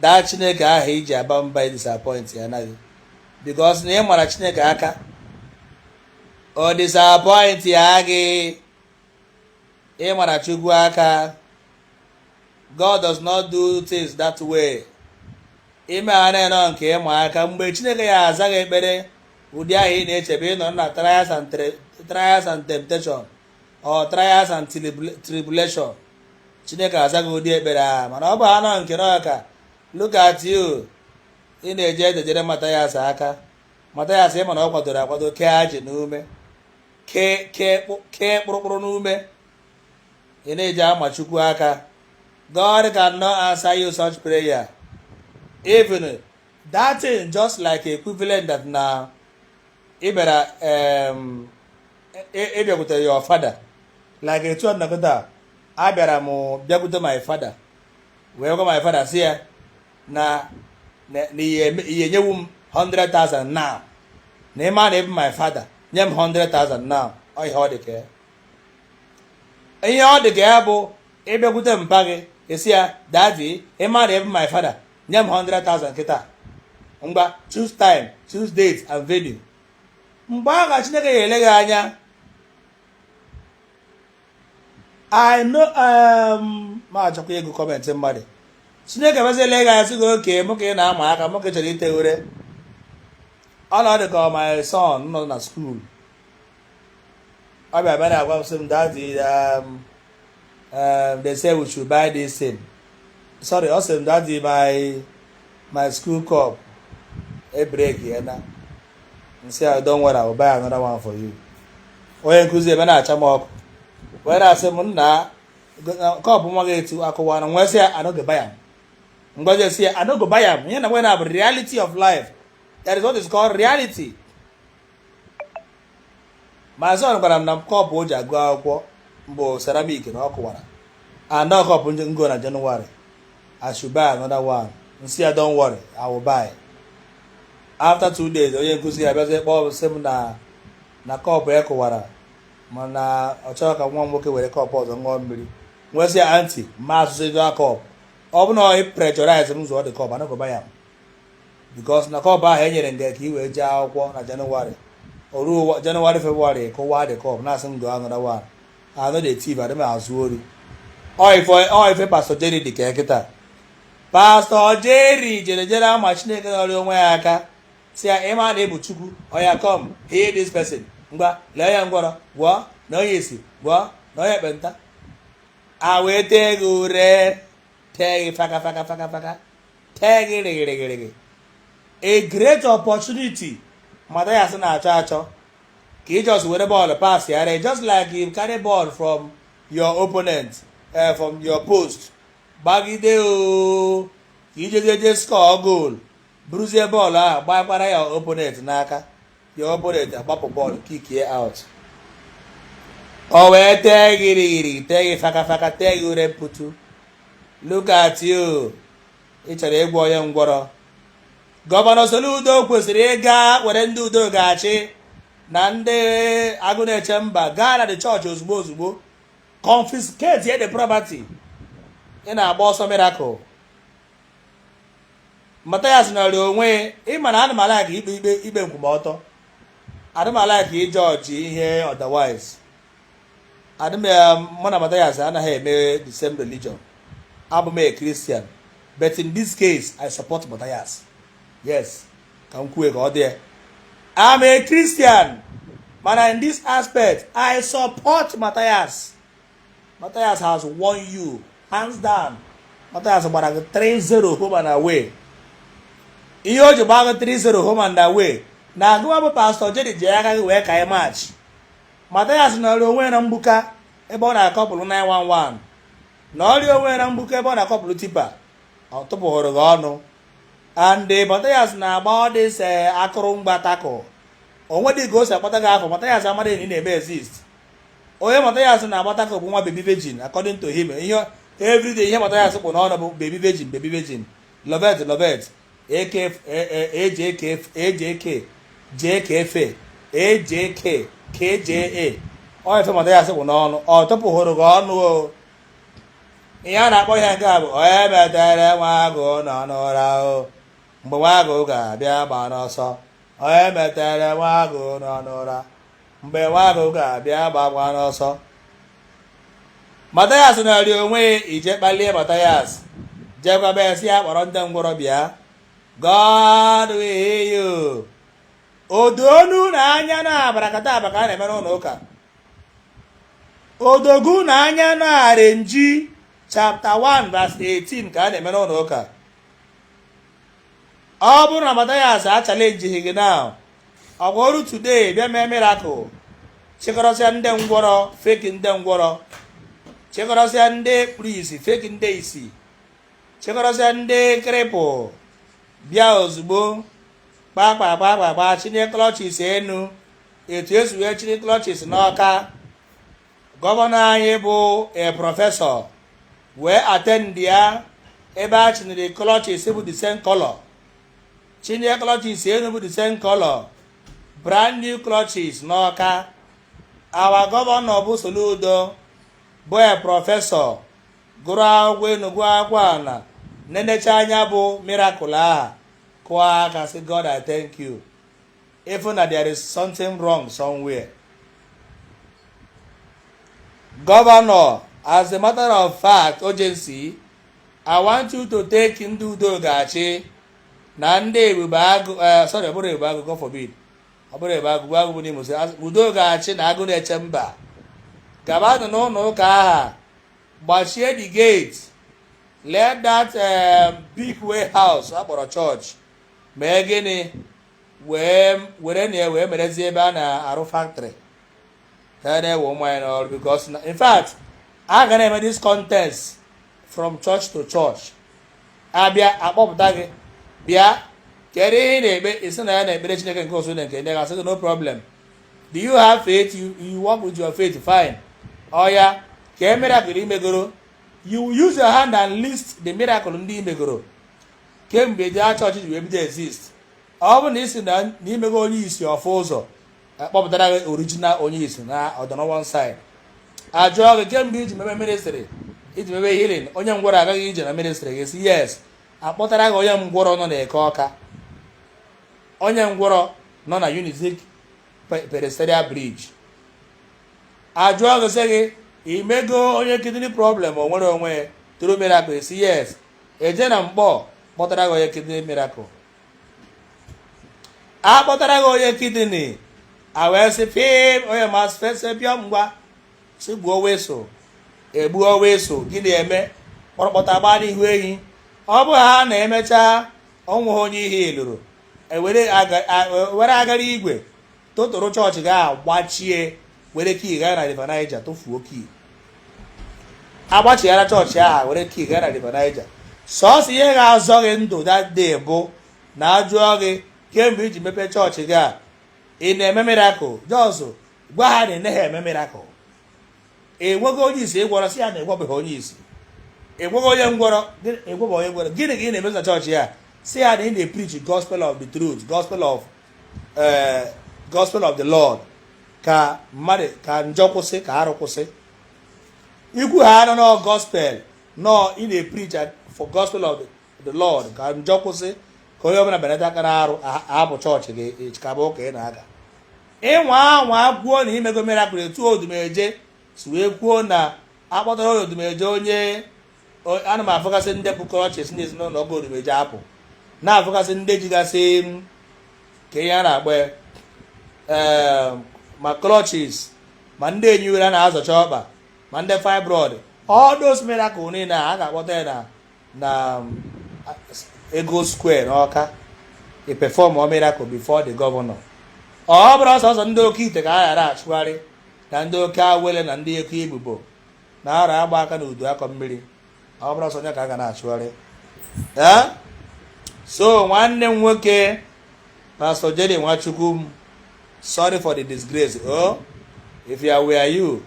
that chineke ahụ iji aba mba disappointịana gị because na ị mara chineke aka ọ disappointịa gị ị mara chukwu aka god does not do things that way ime ha na-enọ nke ịma aka mgbe chineke ya-aza gị ekpere ụdị ahụ ị na-eche bụ ị nọ na trials and temptation or trials and tribulation chineke azaa gị ụdị ekpere ahụ mana ọ bụ anọ nke na ọka look at you ị na-eje edejere matayas aka matayas ị ma na ọ kwadoro akwado kee ajị n'ume kee kpụrụkpụrụ n'ume ị na-eji ama chukwu aka god cannot answer you such prayer even that thing just like equivalent that na ị bịara um, ị bịakwute e, e your father like etu ọ nọ kịta a bịara m bịakwute my father wee gwa my father sị ya na na ị ya-enyewu m 100,000 now na ị ma na ị bụ my father nye m 100,000 now ọ ihe ọ dị ka ya ihe ọ dị ka ya bụ ịbịakwute mpa gị sị ya daddy ị ma na ị bụ my father nye m 100,000 kịta ngwa choose time choose date and venue mgbe ahụ ka chineke ga-ele gị anya I know um, ma achọkwa ịgụ comment mmadụ chineke bịazie lee gị anya sị gị okay mụ ka ị na-ama aka mụ ka ị chọrọ itewe ure ọ nọ dị ka my son nọ na school ọ bịa bịa na-agwa m sị m daddy um, um, they say we should buy this thing sorry ọ sị m daddy my my school cup ebreakịana m sị ya don't worry I will buy another one for you onye nkuzi ebe na-acha m ọkụ wee na-asị m na cup nwa gị etu akụwana m wee sị ya I no go buy am ngwa jee sị ya I no go buy am ihe na nwe na bụ reality of life that is what is called reality my son gwara m na cup o ji agụ akwụkwọ bụ ceramic na ọ kụwara and ọ cup m go na January I should buy another one m sị ya don't worry I will buy after two days onye nkuzi ya bịazie kpọọ m sị m na na cup ya kụwara mana ọ chọrọ ka nwa m nwoke were cup ọzọ ṅụọ mmiri m wee sị ya aunty ma asụsụ ego a cup ọ bụ na ọ pressurize m zụọ the cup I no go buy am because na cup ahụ e nyere nga ka i wee jee akwụkwọ na January o ruo January February kụwa the cup na-asị m gọọ another one I no dey thief adị m ezu ori ọ ife pastor Jerry dị ka kịta pastor Jerry jere jere ama chineke nọrị onwe ya aka sị ya ị ma na ị bụ chukwu oya come heal this person ngwa lee ya ngwọrọ gwọọ na onye isi gwọọ na onye ekpenta a wee tee gị ure tee gị faka faka faka faka tee gị rịgịrịgịrịgị a great opportunity Mathias na-achọ achọ ka ị just were bọọlụ pass ya re just like you carry ball from your opponent uh, from your post gbagide o ka ijejeje score goal buruzie bọọlụ ahụ gbakwara your opponent n'aka dị obere eji agbapụ bọọlụ kikie out o wee tee gị rịgịrị tee gị fakafaka tee gị ure mputu look at you ị chọrọ ịgwọ onye ngwọrọ gọvanọ Soludo kwesịrị ịga were ndị udo ga-achị na ndị agụ na-eche mba gaa na the chọọchị ozugbo ozugbo confiscatie the property ị na-agba ọsọ miracle Mathias nọrọ onwe ịma na ana m alike ikpe ikpe ikpe nkwụmọtọ adị m alike izochi ihe otherwise adịm mụ na Mathias anaghị eme the same religion abụ m a Christian but in this case I support Mathias yes ka m kwue ka ọ dị ya I'm a Christian mana in this aspect I support Mathias Matthias has won you hands down Matthias gbara gị 3-0 home and away ihe o ji gbaa gị 3-0 home and away na gịwa bụ pastọ Jerry ji aka gị wee kanye maachị Matthias nọrọ onwe na mgbuka ebe ọ na-acouple 911 nọrọ onwe na mgbuka ebe ọ na-acouple tipa ọ tụpụhụrụ gị ọnụ and Matthias na-agba ọdịse eh, ọ kwụrụ na-agba attack o nwedị ka o si akpata gị afa Matthias amadịghị na ị na-eme exist onye Mathias na-agba attack ọ bụ nwa bebi virgin according to him ihe everyday ihe Mathias kpụ n'ọnụ bụ bebi virgin bebi virgin lovet lovet jkfe ajk kja ọ ife Mathias kpụ n'ọnụ ọ tụpụhụrụ gị ọnụ o ihe a na-akpọ ihe nke a bụ onye metere nwa agụ nọ n'ụra o mgbe nwa agụ ga-abịa agbana ọsọ onye metere nwa agụ nọ n'ụra mgbe nwa agụ ga-abịa agbakwana ọsọ Mathias nọrọ onwe ị jee kpalie Mathias jekwa bịa sị ya kpọrọ ndị ngwọrọ bịa God will you o do unu anya na abrakadaba ka a na-eme n'ụlọ ụka o dogo unu anya na arenji chapter 1 verse 18 ka a na-eme n'ụlọ ụka ọ bụrụ na Mathias achalenjighị gị now ọ ga-eru today bịa mee miracle chịkọrọsịa ndị ngwọrọ feki ndị ngwọrọ chịkọrọsịa ndị kpuru isi feki ndị isi chịkọrọsịa ndị krịpụ bịa ozugbo kpakpakpakpakpa chinie klọchis enu etu e si wee chinie klọchis n'Ọka gọvanọ anyị bụ a professor wee attendia ebe a chiniri crutches bụ the same color chinie crutches enu bụ the same color brand new crutches n'ọka our governor bụ Soludo bụ a professor gụrụ akwụkwọ enu gụọ akwụkwọ ana nenecha anya bụ miracle aha kụọ aka sị God I thank you ị fụ na there is something wrong somewhere governor as a matter of fact urgency i want you to take ndị udo ga-achị na ndị ebube agụ eh, sorry ọ bụrọ ebube agụ God forbid ọ bụrọ ebube agụ agụ bụ n'Imo udo ga-achị na agụ na-eche mba gabanụ n'ụnọ ụka aha gbachie the gate let that eh, big warehouse a kpọrọ church mee gịnị wee were na ya wee merezie ebe a na-arụ factory ka a na-ewe ụmụ anyị n'ọrụ because na- in fact a ga na-eme this contest from church to church a bịa a kpọpụta gị bịa kedu ihe ị na-ekpe i si na ya na-ekpere chineke nke usuu nine nke ndị agha sị gị no problem do you have faith you, you work with your faith fine oya kee miracle i megoro you use your hand and list the miracle ndị i megoro kemgbe your church ji wee bido exist ọ bụ na i si na i mego onye isi ọ fụ ụzọ a kpọpụtara gị original onye isi na ọdọnọwọ side a jụọ gị kemgbe i ji mebe ministry i ji mebe healing onye ngwọrọ agago ije na ministry gị si yes a kpọtara gị onye ngwọrọ nọ na Eke Ọka onye ngwọrọ nọ na Unizik pedestrian bridge a jụọ gị sị gị i mego onye kidney problem o nwere onwe through miracle si yes e jee na Nkpọ kpọtara gị onye kidney miracle a kpọtara gị onye kidney a wee sị pim onye ma fese bịa ngwa sị gbuo whistle e gbuo whistle gị na-eme kpọrọkpọta gbaa n'ihu ehi ọ bụ ha na-emecha o nweha onye i healụrụ e e, were agara igwe totoro chọọchị gị a gbachie were key gaa na river Niger tụfuo key agbachighara chọọchị aha were key gaa na river Niger sọọsọ ihe ga-azọ gị ndụ that day bụ na a jụọ gị kemgbe i ji mepee chọọchị gị a ị na-eme miracle just gwa ha na ị naghị eme miracle enweghị onye isi ị gwọrọ si ya na ị gwọbeghị onye isi ị gwọghị onye ngwọrọ ị gwọbeghị onye ngwọrọ gịnị ka ị na-emezi na chọọchị ya si ya na ị na-epreach gospel of the truth gospel of ee gospel of the lord ka mmadụ ka njọ kwụsị ka arụ kwụsị ikwu ha anọ nọ gospel nọ ị na-epreach for gospel of the lord ka njọ kwụsị ka onye ọbụla belata aka n'arụ ahapụ church gị ịchịkaba ụka ị na-aga ịnwa anwa kwuo na imego miracle etu odumeje si wee kwuo na akpọtara odumeje onye ana m afụgasị ndị bu crutches na-esi n'ụlọ ụka odumeje apụ na-afụgasị ndị jigasị ka ihe a na-akpọ ehm, ma crutches ma ndị enyi were a na-azọcha ọkpa ma ndị fibroid all those miracle niile a ga-akpọta ya na na Eagle Square n'ọka e performuo miracle before the governor ọ bụrụ sọọsọ ndị oke ite ka a ga na-achụgharị na ndị oke awele na ndị eke ibobo na ara agba aka na udu akọ mmiri ọ bụrụ sọ onye ka a ga na-achụgharị so nwanne m nwoke pastọ Jerry Nwachukwu sorry for the disgrace oh if I were you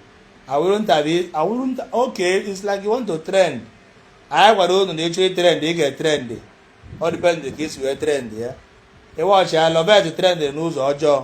I wouldn't have it I wouldn't okay it's like you want to trend anyị gwara unu na ị chọọ itrend ị ga-etrend ọ depend ka i si wee trend ya ị watchia Lovett trend n'ụzọ ọjọọ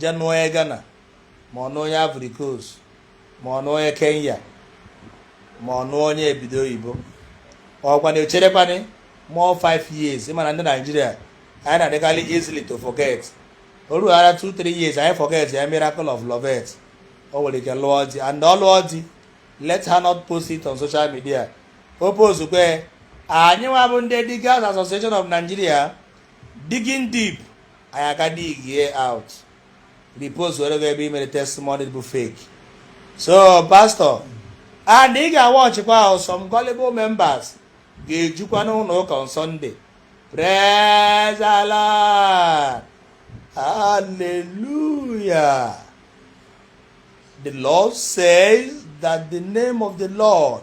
je nụọ onye Ghana ma ọ nụọ onye Ivory Coast ma ọ nụọ onye Kenya ma ọ nụọ onye obodo oyibo ọkwa na echerekwanị more five years ịmana ndị Naijiria anyị na-adịkarị easily to forget o rughara two three years anyị forget ya miracle of Lovett o nwere ike lụọ di and ọ lụọ di let her not post it on social media o postkwa anyị nwa bụ ndị Diggers Association of Nigeria digging deep anyị aga digie out repostuere gị ebe i mere testimony bụ fake so pastor and ị ga-awatchikwa o some gullible members ga-ejukwa n'ụlọ ụka on Sunday praise the Lord hallelujah the Lord says that the name of the Lord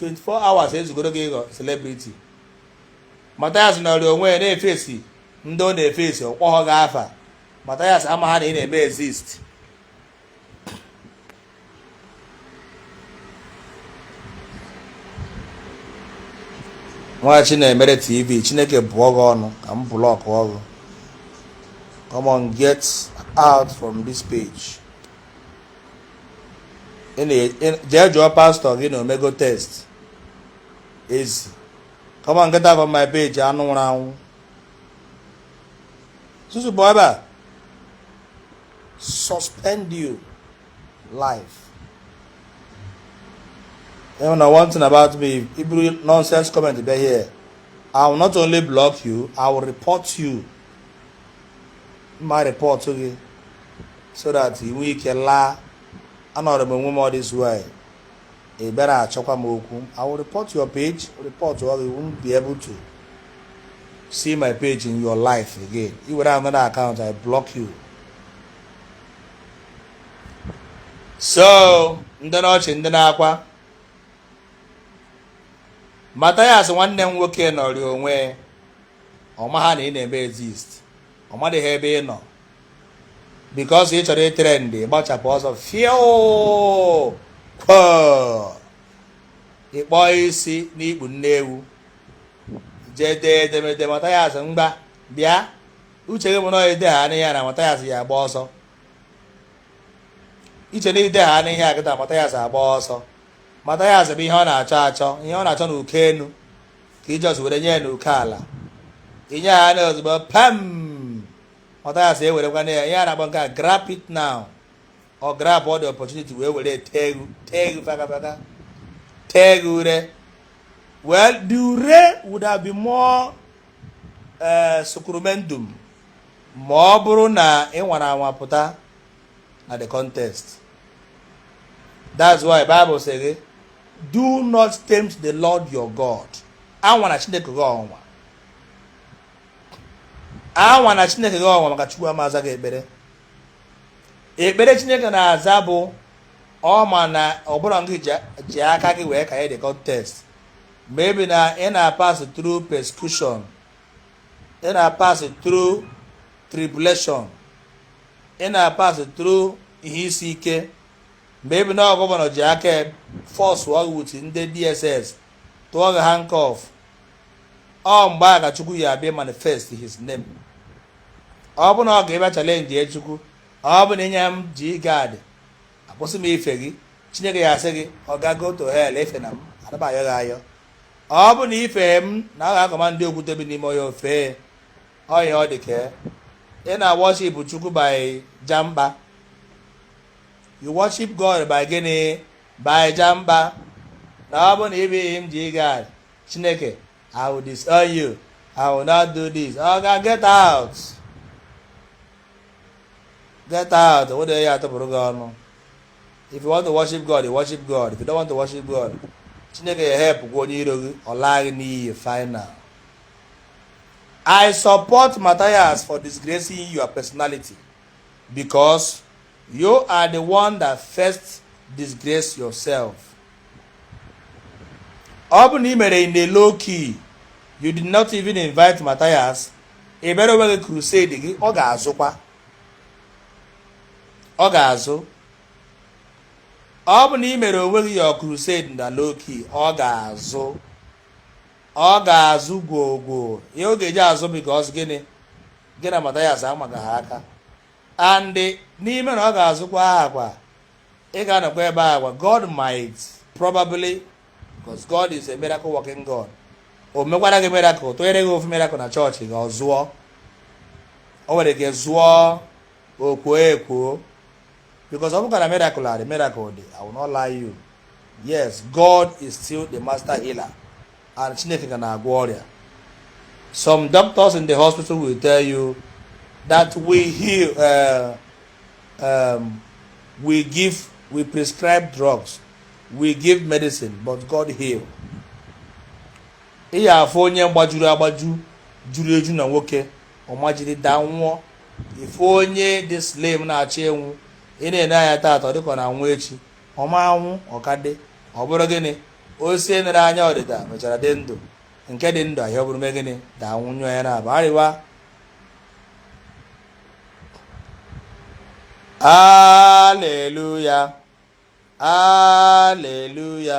24 hours ezugoro gị ịghọ celebrity Mathias nọọrọ onwe ya na-eface ndị ọ na-eface ọ kpọghọ gị afa Mathias amaha na ị na-eme exist nwa chinemere tv chineke bụọ gị ọnụ ka m blockuo gị come on get out from this page jee jụọ pastọ gị na omego test ezi come on get out from my page anụ nwụrụ anwụ susu bụ ebe a suspend your life ị ma one thing about me i buru nonsense comment bịa here I will not only block you I will report you m ma-report gị so that ị nwee ike laa anọrọ m onwe m ọ this way ị bịara achọkwa m okwu I will report your page reportụọ gị won't be able to see my page in your life again i were another account I block you so ndị n'ọchị ndị n'akwa Mathias nwanne m nwoke nọrị onwe ọ maha na ị na-eme exist ọ madịghị ebe ị nọ because ị chọrọ ịtrend gbachapụ ọsọ fio ị kpọ isi n'ikpu nne ewu jee dee edemede Mathias mgba bịa uche gị bụ na i deha ihe a na Mathias ya-agba ọsọ i che na i deha nụ ihe a kịta Mathias agba ọsọ Mathias bụ ihe ọ na-achọ achọ ihe ọ na-achọ n'uko enu ka i just were nye ya n'uko ala i nye ya na ozugbo pam Mathias ewerekwa na ya ihe a na-akpọ nke a grab it now ọ grab all the opportunity wee were tee egwu tee egwu faka faka tee egwu ure well the ure would have been more uh, sacramentum ma ọ bụrụ na ị nwara anwa pụta na the contest that's why bible sị gị do not tempt the lord your god anwana chineke gị ọnwa anwana chineke gị ọnwa maka chukwu ama-aza gị ekpere ekpere chineke na-aza bụ ọ ma na ọ bụrọ gị ji aka gị wee kanye the contest maybe na ị na-pass through persecution ị na-pass through tribulation ị na-pass through ihe isi ike maybe na governor ji aka force gị with ndị dss tụọ gị handcuff ọ mgbe a ka chukwu ya-abịa manifest his name ọ bụ na ọ ga-abịa challenge chukwu ọ bụ na i nye m G-Guard akwụsị m ife gị chineke ya-asị gị ọga go to hell efena m ada m ayọ gị ayọ ọ bụ na i fehe m na ọ ga-command okwute bi n'ime ọhịa o fee ya ọ dị ka ị na-worship chukwu by jamba you worship god by gịnị by jamba na ọ bụ na i nye m G-Guard chineke i will disown you i will not do this ọ ga get out get out wụda ya atụpụrụ gị ọnụ if you want to worship god you worship god if you don't want to worship god chineke ya-help gwa onye iro gị ọ laa gị n'iyi final I support Matthias for disgracing your personality because you are the one that first disgrace yourself. Ọ bụ na ị mere in a low key, you did not even invite Matthias, ị mere onwe gị crusade gị, ọ ga-azụkwa. Ọ ga-azụ. Ọ bụ na ị mere onwe gị your crusade na low key, ọ ga-azụ. ọ ga-azụ gwogwo ihe ọ ga-eji azụ because gịnị gị na Matthias amaga ha aka and n'ime na ọ ga-azụkwa ahụkwa ị ga-anọkwa ebe ahụkwa god might probably because god is a miracle working god o mekwara gị miracle tụnyere gị ofu miracle na chọọchị gị ọ zụọ o nwere ike zụọ o kwuo ekwuo because ọ bụkwa na miracle adị miracle dị I will not lie you yes God is still the master healer and Chineke ka na-agwọ ọrịa some doctors in the hospital will tell you that we heal uh, um, we give we prescribe drugs we give medicine but God heal ị ya-afụ onye gbajuru agbaju juru eju na nwoke ọ majiri daa nwụọ ị fụ onye dị slim na-achọ ịnwụ ị na-ene anya taata ọ dịka ọ na-anwụ echi ọ ma anwụ ọ ka dị ọ bụrụ gịnị osisi nere anya ọdịda mechara dị ndụ nke dị ndụ ahịa ọ bụrụ mee gịnị daa nwụọ anya na aba arịwa aleluya aleluya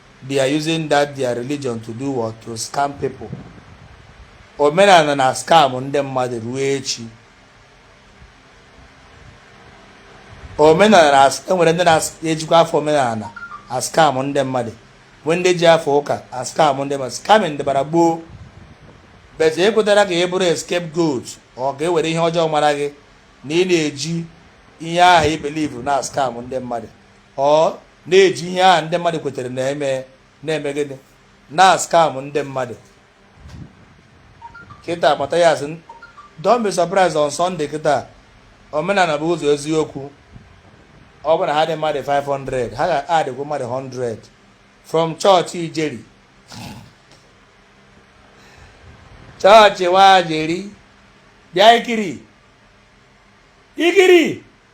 they are using that their religion to do what to scam people omenala na-ascam ndị mmadụ ruo echi omenala e nwere ndị na-ejikwa afa omenala ascam ndị mmadụ nwee ndị ji afa ụka ascam ndị mmadụ scamming dịbara gboo but ekwetara ka ị bụrụ escape goat or ka e were ihe ọjọọ mara gị na ị na-eji ihe ahụ ị believe na-ascam ndị mmadụ ọ na-eji ihe ahụ ndị mmadụ kwetere n'ime na-eme gịnị na-ascam ndị mmadụ kịta Matthias don't be surprised on Sunday kịta omenala bụ ụzọ eziokwu ọ bụrụ na ha dị mmadụ 500 ha ga-adịkwu mmadụ 100 from chọọchị ijeri chọọchị nwajeri bịa ikiri ikiri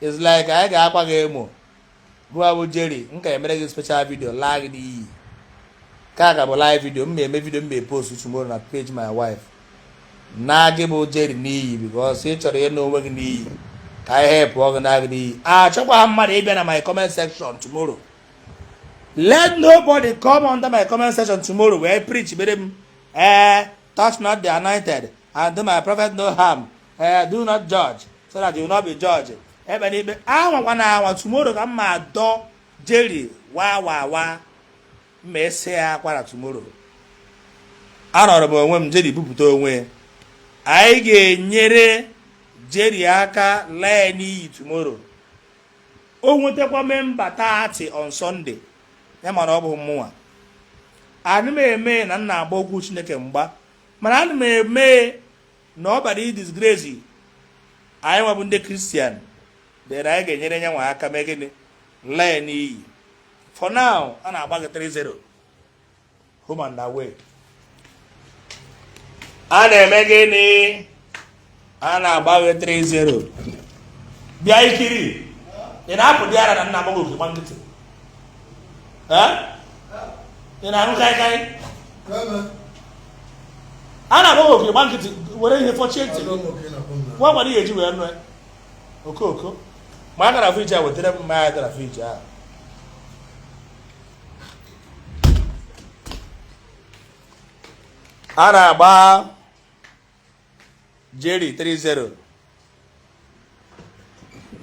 It's like anyị ga-akwa gị emo gịnwa bụ Jerry m ga-emere gị special video laa gị n'iyi nke a ka bụ live video m eme video m ma post tomorrow na page my wife laa gị bụ Jerry n'iyi because ị chọrọ ịla onwe gị n'iyi ka anyị helpụọ gị laa gị n'iyi achọkwaha m mmadụ ịbịa na my comment section tomorrow let nobody come under my comment section tomorrow wee preach bere m ee eh, touch not the anointed and do my prophet no harm ee eh, do not judge so that you will not be judged ekpena ikpe anwakwana anwa tomorrow ka m ma-adọ Jerry wa wa wa m ma-ese ya akwara tomorrow anọrọ m onwe m Jerry bupụta onwe anyị ga-enyere Jerry aka laa ya n'iyi tomorrow o nwetakwa member thirty on Sunday ya ma na ọ bụ mmụnwa ana m eme na m na-agba okwu Chineke mgba mana ana m eme na ọ bịara ịdisgrace anyịnwa bụ ndị Christian then anyị ga-enyere ya nwa aka mee gịnị laa ya n'iyi for now a na-agba gị 3-0 home and away a na-eme gịnị a na-agba gị 3-0 bịa Nkiru ị na-apụdị ara na m na-akpọ gị oku ị gba nkịtị ị na-aṅụ kaikai a na-akpọ gị oku ị gba nkịtị were ihe fọchie ntị nwa gwara ihe eji wee nụ okooko ma a gaa na fridge a wetara m mmanya dị na fridge ahụ a na-agba Jerry 3-0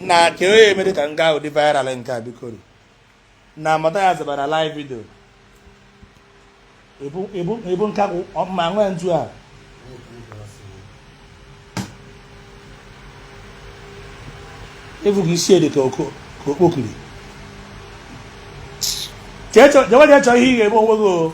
na ka onye mere ka m gaa ụdị viral nke a bikoro na mata ya zebara live video ebu nkakwụ ma nwee ntu a ebughị isi ede ka okpokiri jewe jee chọọ ihe ị ga-eme onwe gị o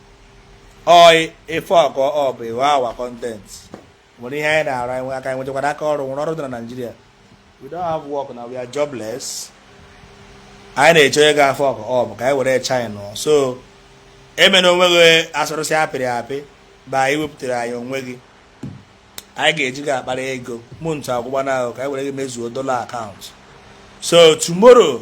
ọị if you fuck up you are our content o nwere ihe anyị na-arụ anyị aka anyị nwechakwana aka ọrụ o nwere ọrụ dị na Naịjirịa we don't have work na we are jobless anyị na-eche onye ga-fuck up ka anyị were shine so emena onwe gị asụrụsị apịrị apị na ị wepụtara anyị onwe gị anyị ga-eji gị akpara ego mụ ntụ akwụkwọ na ahụ ka anyị were gị mezuo dollar account so tomorrow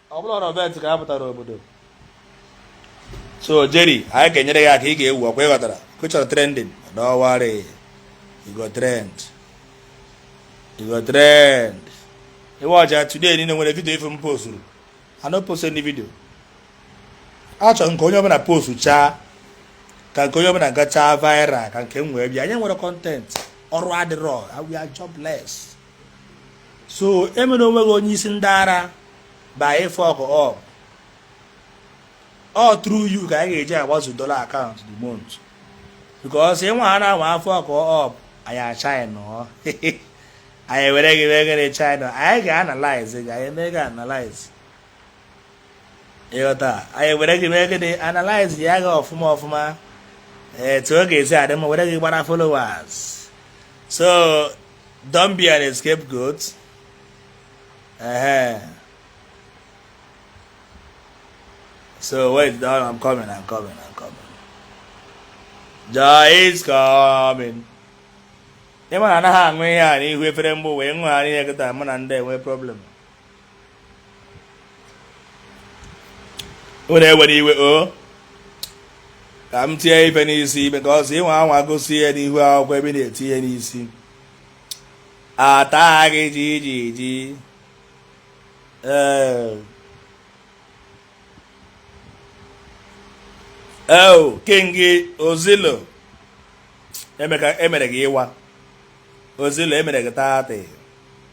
ọ bụrụ na ọbet ka a pụtara obodo so Jerry anyị ga-enyere gị aka ị ga-ewu ọkwa ị ghọtara ọkwa ị chọrọ trending don't worry you go trend you go trend ị watchaa today niile o nwere video ị fụ m posturu I no post any video achọrọ m ka onye ọbụla post chaa ka nke onye ọbụla gachaa viral ka nke m wee bịa anyị nwere content ọrụ adịrọ we are jobless so emene onwe gị onye isi ndị ara by ị fuck up all through you ka anyị ga-eji agbazu dollar account the month because ị nwaa anwa fuck up anyị achina anyị were gị wegere china anyị ga-analyze gị anyị mee gị analyze ịghọta anyị were gị mee gịnị analyze ya gị ọfụma ọfụma etu ọ ga-esi adị mma were gị gbara followers so Don't be an escape goat. Ehe. So wait, down. I'm coming. I'm coming. I'm coming. Joy is coming. ịma na anaghị aṅụ ihe a n'ihu efere mgbe wee ṅụgharị ihe kịta mụ na ndị enwe problem unu ewere iwe o oh. ka m tinye ife n'isi because ị nwaa anwa gosi ihe n'ihu akwụkwọ ebe na-eti ihe n'isi ata gị ji ji ji ee eh. eo oh, king ozilo emere gị ịwa ozilo emere gị 30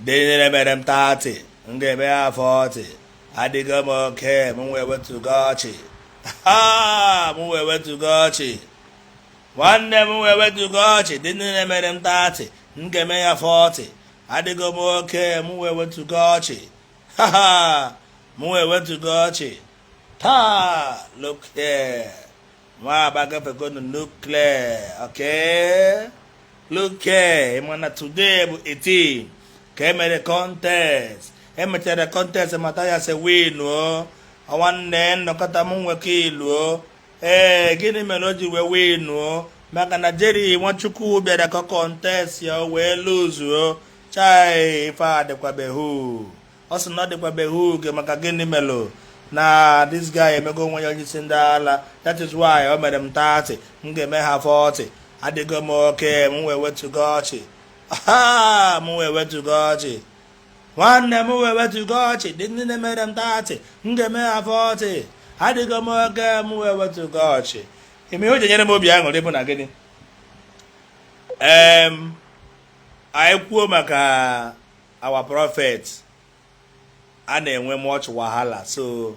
ndị niile mere m 30 m ga-eme ha 40 adịgo m okay m wee wetụga ọchị ha m wee wetụga ọchị nwanne m wee wetụga ọchị ndị niile mere m 30 m ga-eme ha 40 adịgo m okay m wee wetụga ọchị ha ha m wee wetụga ọchị taa look here nwa aba gafegonu nukle oke luke mana today bụ 18 ka emere contest emechara contest mata ya se winuo nwanne nnọkọta m nwekọ iluo ee gịnị mere o ji wee winuo maka na jeri nwachukwu bịara ka ọ contest ya wee luzuo chai ife adịkwabeghị ọ sị na ọ dịkwabeghị oge maka gịnị melụ na this guy emego onwe ya onye isi ndị ala that is why o mere m 30 m ga-eme ha 40 adịgo m okay m wee wetugo ọchị m wee wetugo ọchị nwanne m wee wetugo ọchị ndị niile mere m 30 m ga-eme ha 40 adịgo m okay m wee wetugo ọchị ime ihe o ji nyere m obi aṅụrị bụ na gịnị ee anyị kwuo maka our prophet a na-enwe much wahala so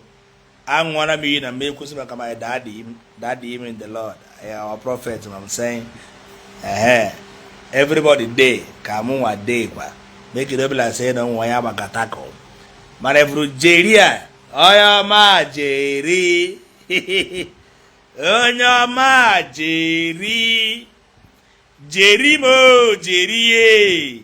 aṅụọla m iyi na m ekwusi maka my daddy daddy m in the lord our prophet ma m say ehe everybody dey ka mụ nwa dey kwa make e no be like say na nwa ya maka tako mana efuru jeri a onye ọma jeri onye ọma jeri jeri m o jeri ye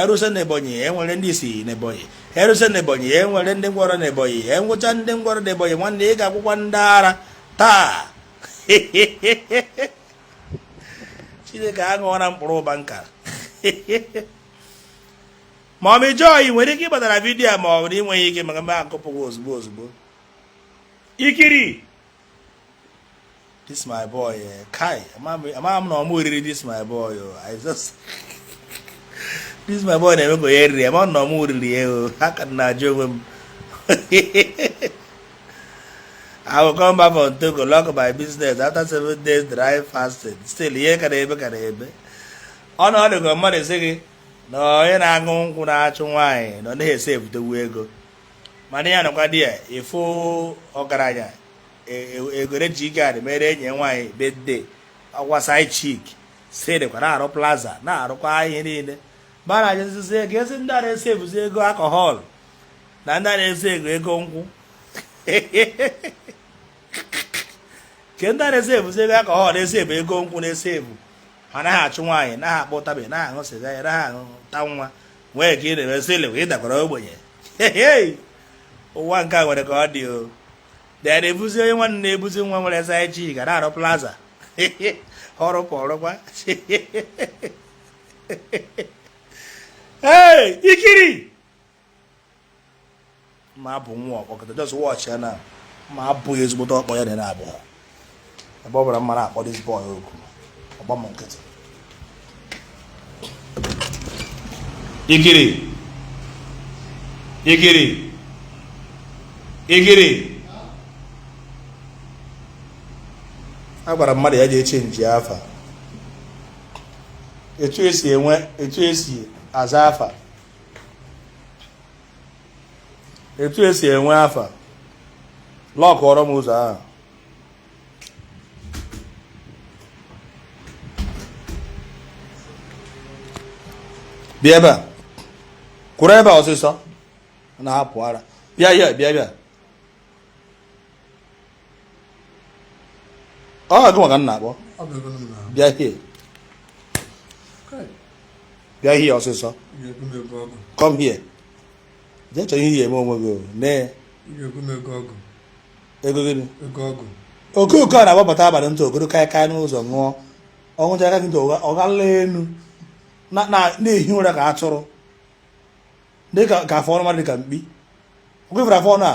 erusịa na ebonyi enwere ndị isi na ebonyi erusịa na ebonyi enwere ndị ngwọrọ na ebonyi enwecha ndị ngwọrọ na ebonyi nwanne ị ga-ekwukwa ndị ara taa chineke aṅụọra mkpụrụ ụba nka ma ọ mejọọ ị nwere ike ịgbatara vidiyo ma ọ bụrụ inweghị ike maka mgbe akụpụghị ozugbo ozugbo ikiri this my boy eh, kai amaghị m na ọ mụ o riri this my boy oh, i just this my boy na-eme ka onye riri ama na ọ mụ o riri ya o ha ka na-ajụ onwe m I will come back from Togo, lock my business after seven days dry fasting. Still, ihe ka na-ebe ka na-ebe. Ọ na ọ dịkwa mmadụ sị gị na onye na-aṅụ nkwụ na-achụ nwaanyị na ọ naghị esi ebutewu ego. mana ya nọkwa there ị fụ ọgaranya e, e, ego e ji ga mere enyi nwaanyị birthday ọkwa side chick si dịkwa na-arụ plaza na-arụkwa ihe niile ma na ajụzụzi ego ezi ndị a na-esi ebuzi ego alcohol na ndị a na-esi ego ego nkwụ ke ndị a na-esi ebuzi ego alcohol na-esi ebu ego nkwụ na-esi ebu ha naghị achụ nwaanyị naghị akpọ ụtaba naghị aṅụ sịga ya naghị aṅụ ta nwa nwee ka ị na-eme still ị dakwara ogbenye ụwa nke a nwere ka ọ dị o dee na-ebuzi onye nwanne na-ebuzi nwa nwere side chick ga na-arụ plaza ọrụ kwa ọrụkwa ee ikiri ma abụ nwa ọkpọ kịta just watch ya na ma abụghị ezigbote ọkpọ ya dị na abụọ ebe ọ bụla m na-akpọ this boy oku ọ gbaa m nkịtị igiri igiri igiri a gwara mmadụ ya ji eche nji afa etu esi enwe etu esi aza afa etu esi enwe afa lọkụọrọ m ụzọ ahụ bịa ebe a kwụrụ ebe a ọsịsọ na-apụ ara bịa ya bịa bịa ọ gị m ga na-akpọ bịa here bịa here ọsịsọ come here jee chọrọ ihe eme onwe gị nee ego gịnị okooko a na-agbapụta abalị ntụ ogogoro kaịkaị n'ụzọ ṅụọ ọṅụ jaka gị ntụ ọ gala elu na-ehi ụra ka atụrụ lee ka afụ ọnụ mmadụ dịka mkpi okwefere afụ ọnụ a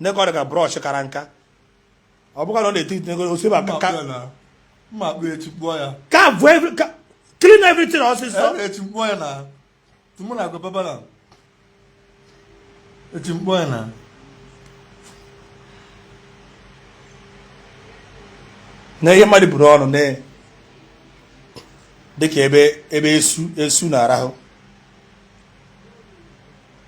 nee ka ọ dị ka brọsh kara nka ọ bụkwa na ọ na-eti iti ego osiba ka ka mma akpụ echi kpụọ ya ka bụ every ka clean everything ọsịsọ echi kpụọ ya na tụmụ na agwa baba na echi kpụọ ya na na ihe mmadụ buru ọnụ na-adị ka ebe ebe esu esu na-arahụ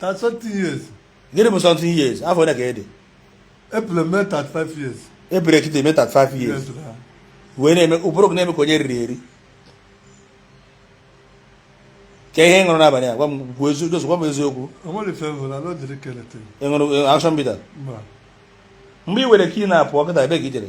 Thirty something years. Gịnị bụ something years? Afọ ole ka ị dị? April mee 35 years. April kịta eme 35 years. Wee na-eme ụbụrụ gị na-eme ka onye riri eri. Kee ihe ị ṅụrụ n'abalị a, gwa m kwuo eziokwu, Joseph, gwa m eziokwu. O nwere ife ị ṅụrụ, ala dịrị kelete. Ị ṅụrụ action bitter? Mgbe i were kii na-apụ kịta ebee ka i jere?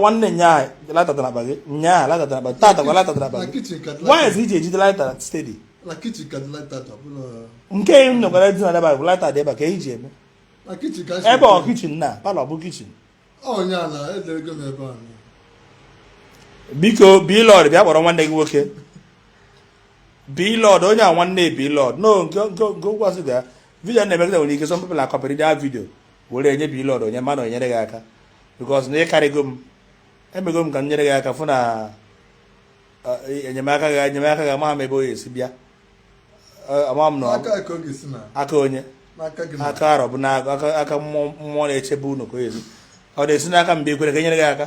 nwanne nyaa laịta na abalị nyaa laịta na abalị tata kwa laịta na abalị wanyị iji ejide laịta stedi nke m nọkwara dị na daba bụ laịta dị ebe ka eji eme ebe ọ kichin na palọ bụ kichin biko Blord bịa kpọrọ nwanne gị nwoke Blord onye a nwanne Blord no nke nke nke ụgwọ a sị na VDM na-emegide nwere ike some people a akọpịrị dị a vidio were enye Blord onye mana o nyere gị aka because na ị karịgo m emego m ka m nyere gị aka fụ na e, enyemaka gị enyemaka gị amaghị m ebe ọ ya-esi bịa e, amaghị m na aka onye aka arọ bụ na aka mmụọ na-echebe unu ka ọ ya-esi ọ na-esi n'aka m bịa i kwere ka e nyere gị aka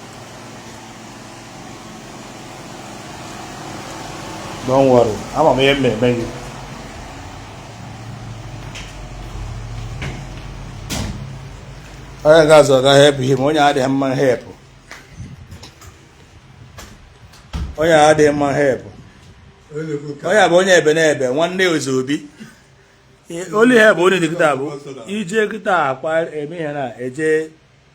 don't worry ama m ihe m na-eme gị onye ga-azụ ga help him onye adịghị mma help onye adịghị mma help onye bụ onye ebe n'ebe nwanne ozi obi olu ihe bụ onye dị kịta bụ ije kịta akwa eme ihe na eje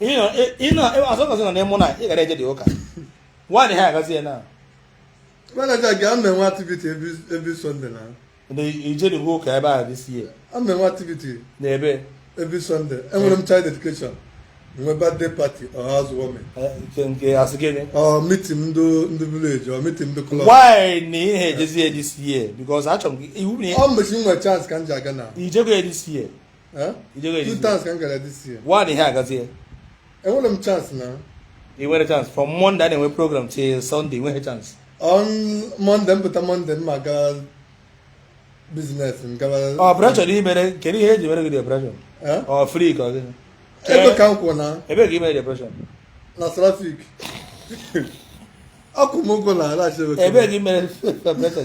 asọkọsị nọ n'ịmụ na ị gara eje dị ụka nwaanyị ha agazi ya na manaja gị ama enwe activity every Sunday na ijeri bụ ụka ebe a this year ama enwe activity na every every Sunday enwere m child dedication nwe birthday party or housewarming nke asị gịnị ọ meeting ndị ndị village ọ meeting ndị club why na ị na-ejezi ya this year because achọrọ m gị iwu na ọ mmechi nwe chance ka m ji aga na i jego ya this year one ihe agazie enwere m chance na ị nwere chance from Monday a na-enwe program till Sunday enweghị chance on Monday m pụta Monday m aga business m gaba operation oh, imere kedu ihe e ji mere gị operation ọ oh, free ka ọ gịnị ebee ka m kwụ na ebe ka imere operation na traffic ọkụ m ụgwọ na ala ebee ka imere operation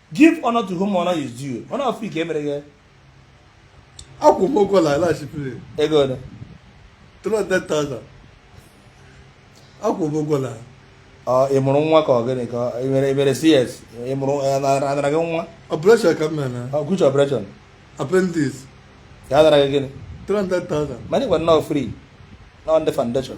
give honor to whom honor is due ọ na free ka e mere gị akwụ m ụgwọ na alaghachipụrụ ego ole 300,000 akwụ m ụgwọ na ị mụrụ nwa ka ọ gịnị ka ị mere e mere CS ị mụrụ anara gị nwa operation ka m mere na which operation appendix ka a nara gị gịnị 300,000 mana ị gwara na ọ free na ọ ndị foundation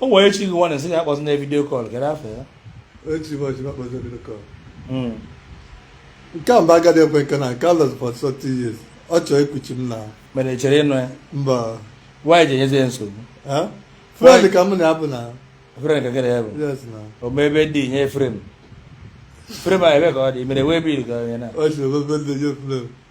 o nwere echi gị nwanne sị ya akpọzi na video call gere afọ ya echi m ọchị m akpọzi video call hmm. nke a mba agadi ekwe nke na nke a lụzi for 30 years ọ chọọ ikuchi m na mere chere ịnụ ya mba nwaanyị ji enyezi ya nsogbu friend ka m na ya bụ na friend ka gịnị ya bụ o mee birthday nye frame frame a ebe ka ọ dị mere wee bil ka onye na o si birthday nye frame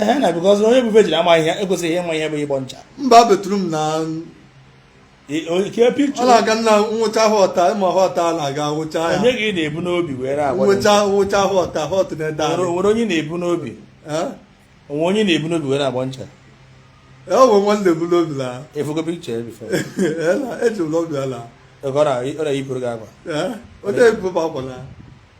ee na because onye bụ virgin amaghị ihe ekwesịghị ịma ihe bụ ịgbọ ncha mba betụrụ m na ọ na-aga nna nwụcha họta ịma họta na-aga nwụcha ya onye gị na-ebu n'obi were agbọ ncha nwụcha họta họt na-ede anyị nwere onye na-ebu n'obi onwe onye na-ebu n'obi were agbọ ncha e onwe nwanne ebu n'obi la afụgo picture ya before eji m n'obi ala ọ na-eyipụrụ gị akwa onye ebube akwa na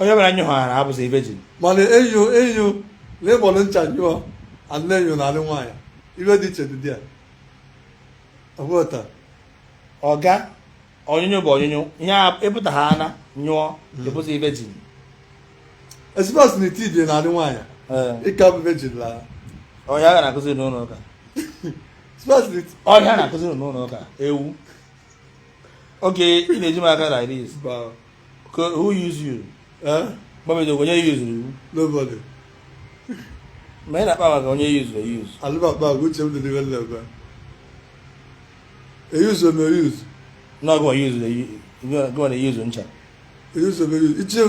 onye mere anyị hụghara abụzi virgin mana enyo enyo na ị gbọrọ ncha nyụọ a dị na-anyụ na alị nwaanyị ife dị iche dị ya ọbụta ọga ọnyụnyụ bụ ọnyụnyụ ihe ịpụta ha ana nyụọ hmm. ị bụzi virgin ezigbo asị na iti dị na alị nwaanyị ị ka bụ virgin la ọ ihe a ga na-akụzi n'ụlọ ụka ọ ihe a na-akụzi n'ụlọ ụka ewu oge ị na-eji m aka na iris who use you? Eh? Mbabejo onye use you? Nobody. Ma ị na-akpa maka onye use na use. Alụbakpa agwa uche m dị n'ihe na-eme. E use m e use. Na ọgụ e use gụọ na e use ncha. E use m e use. Iche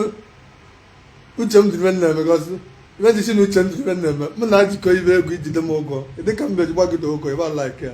uche m dị n'ihe na-eme gọsị. Ibe dị si na uche m dị n'ihe na-eme. Mụ na-ajikọ ife egwu i jide m ụgwọ. Dị ka mbe ji gbagide ụgwọ, ịba like ya.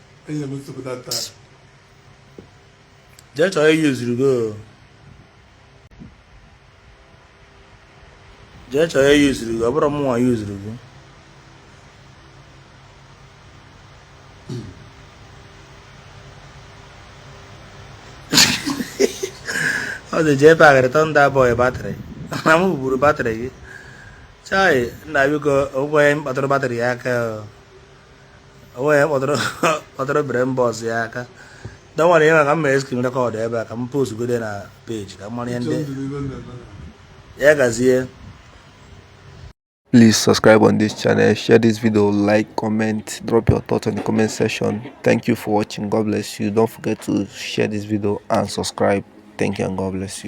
Enye m nsogbu that time. Jee chọọ onye yuzuru gị o. Jee chọọ onye yuzuru gị, ọ bụrọ mụnwa yuzuru gị. ọ dị jee pagharị tọnda bọị batrị na m buru batrị gị chai nna biko o nwe onye kpatụrụ batrị ya aka o. onwe ya kpọtara obere mbọ ọzọ ya aka dọwara ya maka mma e screen record ebe a ka m post godi na page ka mara ihe ndị ya gazie Please subscribe on this channel, share this video, like, comment, drop your thoughts in the comment section. Thank you for watching. God bless you. Don't forget to share this video and subscribe. Thank you and God bless you.